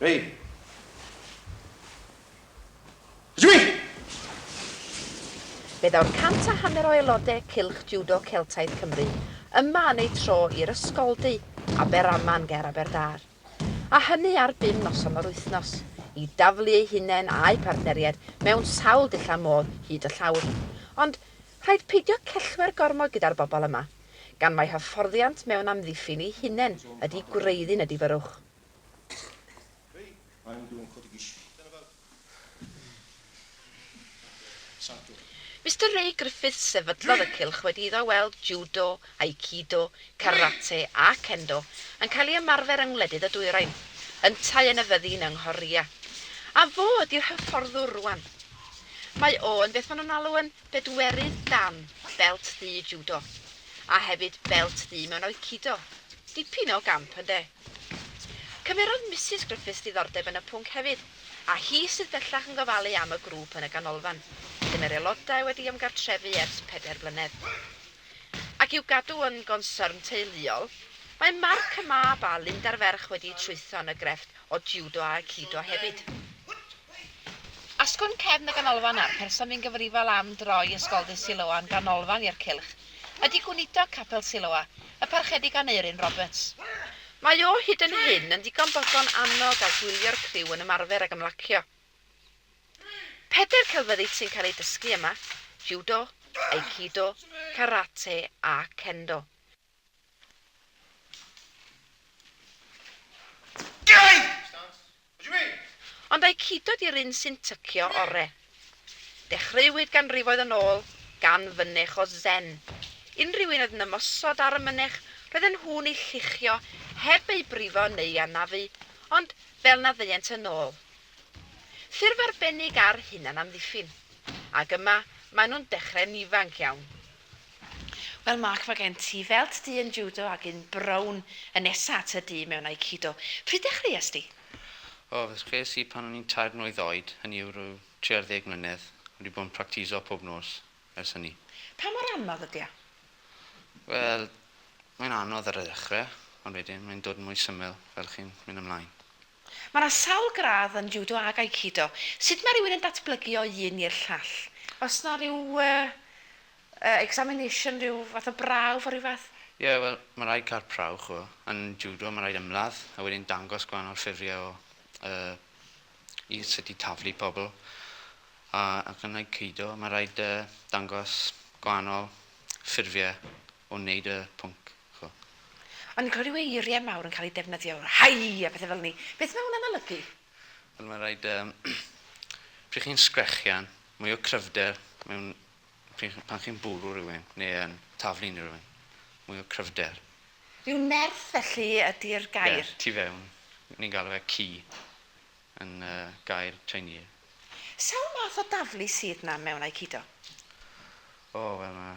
Hei! Jimmy! Fe ddaw'r cant a hanner o aelodau Cylch Jiwdo Celtaidd Cymru yma yn eu tro i'r Ysgoldy, Aberaman ger Aberdâr, a hynny ar bum noson o'r wythnos, i daflu eu hunain a'u partneriaid mewn sawl dillad modd hyd y llawr. Ond Rhaid peidio cellwair gormod gyda'r bobl yma, gan mai hyfforddiant mewn amddiffyn eu hunain ydy gwreiddyn y difyrrwch. Mister Ray Griffiths sefydlodd y cylch wedi iddo weld Judo, Aikido, Karate a Kendo yn cael ei ymarfer yng ngwledydd y Dwyrain, yntau yn y fyddin yng Nghorea. A fo ydy'r hyfforddwr rwan. Mae o yn beth maen nhw'n alw yn Pedwerydd dan belt ddu Judo, a hefyd belt ddu mewn Aikido. Dipyn o gamp, ynde? Cymerodd Misus Griffiths diddordeb yn y pwnc hefyd, a hi sydd bellach yn gofalu am y grŵp yn y Ganolfan, lle mae'r aelodau wedi ymgartrefu ers pedair blynedd. Ac i'w gadw yn gonsyrn teuluol, mae Mark y mab a Linda'r ferch wedi trwytho yn y grefft o Judo a Aikido hefyd. Asgwn cefn y ganolfan a'r person fu'n gyfrifol am droi Ysgoldy Siloa'n ganolfan i'r cylch ydy Gweinidog Capel Siloa, y Parchedig Aneurin Roberts. Mae o hyd yn hyn yn ddigon bodlon annog a gwylio'r criw yn ymarfer ac ymlacio. Pedair celfyddyd sy'n cael eu dysgu yma, Judo, Aikido, Karate a Kendo. Ond ai Cudo di'r un sy'n tycio ore? Dechreuwyd ganrifoedd yn ôl gan fynech o Zen. Unrhyw un oedd yn ymosod ar y mynech roedden nhw'n ei lluchio heb ei brifo neu'i anafu, ond fel na ddeuent yn ôl. Ffurf arbennig ar hunanamddiffyn. Ac yma maen nhw'n dechrau'n ifanc iawn. Wel Mark ma gen ti felt du yn judo ag un brown y nesa at y du mewn aikido. Pryd dechreuas di? O, ddechreuas i pan o'n i'n tair mlwydd oed, hynny yw rhyw tri ar ddeg mlynedd. Wedi bod yn practiso pob nos ers hynny. Pa mor anodd ydy o? Wel, mae'n anodd ar y ddechrau, ond wedyn mae'n dod yn mwy syml fel chi'n mynd ymlaen. Mae yna sawl gradd yn Judo ac Aikido. Sut mae rhywun yn datblygu o un i'r llall? Oes yna rhyw examination, rhyw fath o brawf o rhyw fath? Ie, wel, mae rhaid cael prawf, chibod. Yn Judo mae rhaid ymladd a wedyn dangos gwahanol ffurfiau o yy i sut i taflu pobl. A ac yn Aikido mae rhaid yy dangos gwahanol ffurfiau o wneud y pwnc, ch'bo'. O'n i'n clywed ryw eirie mawr yn cael eu defnyddio, Hei! a pethe fel 'ny. Beth ma' hwnna'n olygu? Wel ma' raid yym pryd chi'n sgrechian, mwy o cryfder mewn pryd chi pan chi'n bwrw rywun ne' yn taflu unryw un. Mwy o cryfder. Ryw nerth felly ydi'r gair? Ie, tu fewn. Ni'n galw fe qi yn yy gair Chinee. Sawl math o daflu sydd 'na mewn Aikido? O wel ma'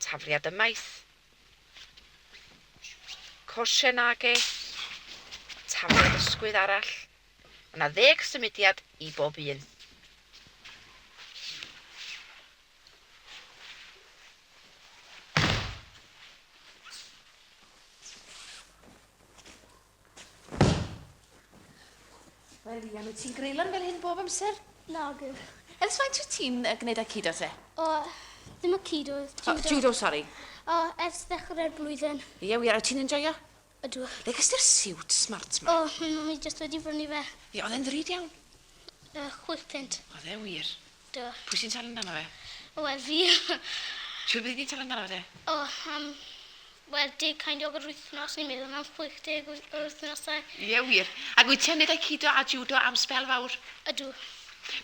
Tafliad y maes. Coshen age. Tafliad ysgwydd arall. Mae yna ddeg symudiad i bob un. Wel, Ian, wyt ti'n greilan fel hyn bob amser? Nag yw. Ers faint wyt ti'n uh, gwneud aikido te? O, ddim aikido, judo. Oh, judo, sori. O, ers ddechrau'r blwyddyn. Ie, yeah, wir, wyt ti'n enjoyo? Ydw. Le gysty'r siwt smart ma? O, oh, mi jyst wedi brynu fe. Ie, oedd e'n ddrud iawn? Uh, chwith pint. Oedd e wir. Do. Pwy sy'n talu amdano fe? Wel fi. Shwd byddi di'n talu amdano fe de? O am wel deg kind o wythnos ni'n meddwl am chwech deg o wythnosau. Ie wir. Ac wyt ti am neud aikido a judo am sbel fawr? Ydw.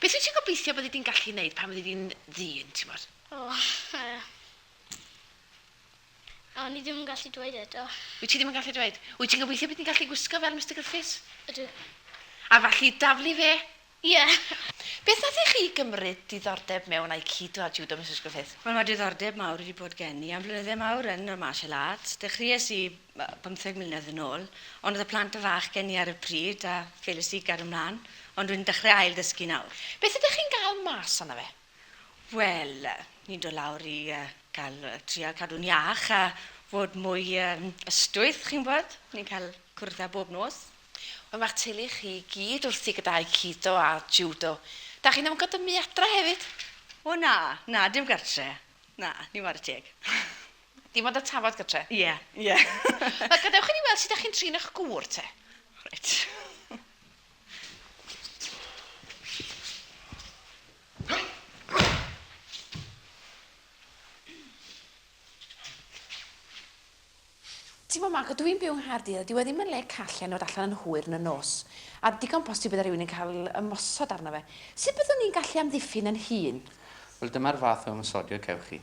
Beth wyt ti'n gobeithio byddi di'n gallu neud pan fyddi di'n ddyn t'mod? O yy. O ni ddim yn gallu dweud eto. Wyt ti ddim yn gallu dweud? Wyt ti'n gobeithio bydd ti'n gallu gwisgo fel Mister Griffiths? Ydw. A fallu daflu fe? Ie. Beth nath i chi gymryd diddordeb mewn Aikido a Judo Misus Griffith? Wel ma' diddordeb mawr wedi bod gen i am flynydde mawr yn y martial arts. Dechreues i yy bymtheg mlynedd yn ôl ond o'dd y plant yn fach gen i ar y pryd a ffeilies i gario mlan ond rwy'n dechre ail ddysgu nawr. Beth ydych chi'n ga'l mas ono fe? Wel, ni'n dod lawr i yy ca'l yy trial cadw'n iach a fod mwy yym ystwyth chi'n gwbod. Ni'n ca'l cwrdd â bob nos. Ond mae'r teulu chi i gyd wrthi gyda'u cido a jiwdo. Da chi'n ymgydymu adra hefyd? O na, na, dim gartre. Na, ni ware teg. Dim ond y tafod gytre? Ie, ie. Wel, gadewch i ni weld sut da chi'n trin eich gŵr te. Reit. T'mo Marco, dw i'n byw yng Nghaerdydd a dyw e ddim yn le call enwad allan yn hwyr yn y nos. A digon posib bydde rhywun yn cael ymosod arno fe. Sut byddwn i'n gallu amddiffyn yn hun? Wel, dyma'r fath o ymosodio cewch chi.